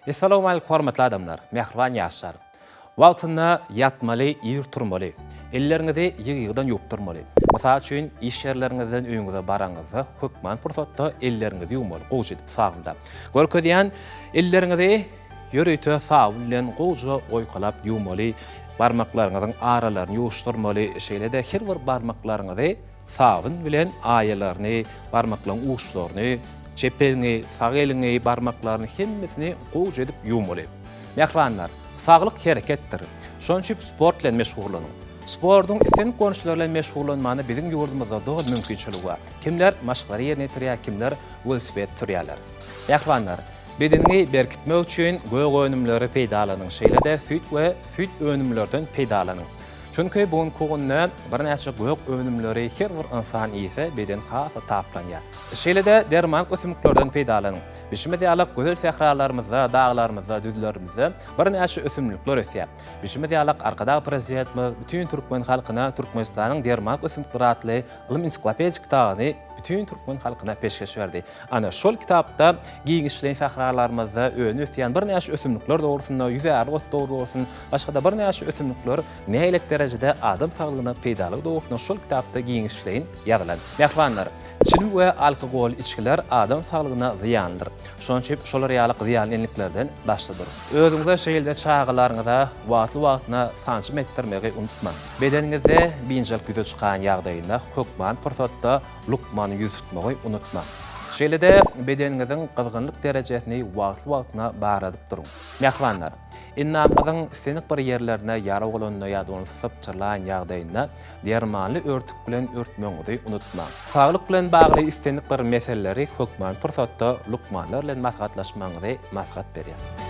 Essalawmalik hormatly adamlar, mähriban ýaşlar! Wagtynda ýatmaly, ir turmaly. Elleriňizi ýygy-ýygydan ýuwup durmaly. Mysal üçin, iş ýerleriňizden öýüňize baraňyzda, hökman pursatda elleriňizi ýuwmaly, gowuja edip sabynlap. Görkezýän, elleriňizi ýörite sabyn bilen gowuja oýkalap ýuwmaly, barmaklaryňyzyň aralaryny ýuwuşdyrmaly, şeýle-de her bir barmaklaryňyzy, Sabyn bilen aýalaryny, barmaklaryň uçlaryny, çep eliňi, sag eliňi, barmaklaryny hemmesini gowja edip ýuwmaly. Mähribanlar, saglyk hereketdir. Şonuň üçin sport bilen meşgullanyň. Sportuň islendik görnüşleri bilen meşgullanmana biziň ýurdumyzda doly mümkinçilik bar. Kimler maşklary ýerine ýetirýär, kimler welosiped sürýärler. Mähribanlar, bedeniňi berkitmek üçin gök önümleri peýdalanyň, şeýle-de süýt we süýt önümlerden peýdalanyň. Çünki bu günki günde birnäçe gök önümleri her bir ynsan iýse, beden has-da taplanýar. Şeýle-de dermanlyk ösümliklerden peýdalanyň. Bişimiz ýaly gözel sähralarymyzda, daglarymyzda, düzlerimizde birnäçe ösümlikler ösýär. Bişimiz ýaly Arkadag Prezidentimiz bütin türkmen halkyna Türkmenistanyň dermanlyk ösümlikleri atly ylmy-ensiklopedik kitabyny bütin türkmen halkyna peşgeş berdi. Ana, şol kitapda giňişleýin sähralarymyzda öne-ösýän birnäçe ösümlikler dogrusynda, ýüzärlik ot dogry bolsun, başga-da birnäçe ösümlikler nähilek derejede adam saglygyna peýdalygy dogrusynda şol kitapda giňişleýin ýazylan. Mähribanlar! Çilim we alkogolly içgiler adam saglygyna zyýanlydyr. Şonuň üçin şolar ýaly zyýanly enliklerden daşda duruň. Özüňize şeýle-de çagalaryňyza wagtly-wagtyna sanjym etdirmegi unutmaň. Bedeniňizde biynjalyk ýüze çykan ýagdaýynda hökman pursatda Lukmana ýüz tutmagy unutmaň. Şeýle-de bedeniňiziň gyzgynlyk derejesini wagtly-wagtyna barladyp duruň. Mähribanlar, endamyňyzyň islendik bir ýerlerine ýara bolanda ýa-da ony sypjyrlaýan ýagdaýynda dermanly örtük bilen örtmegiňizi unutmaň. Saglyk bilen bagly islendik bir meseleleri hökmany pursatda lukmanlar bilen maslahatlaşmagyňyzy maslahat berýäris.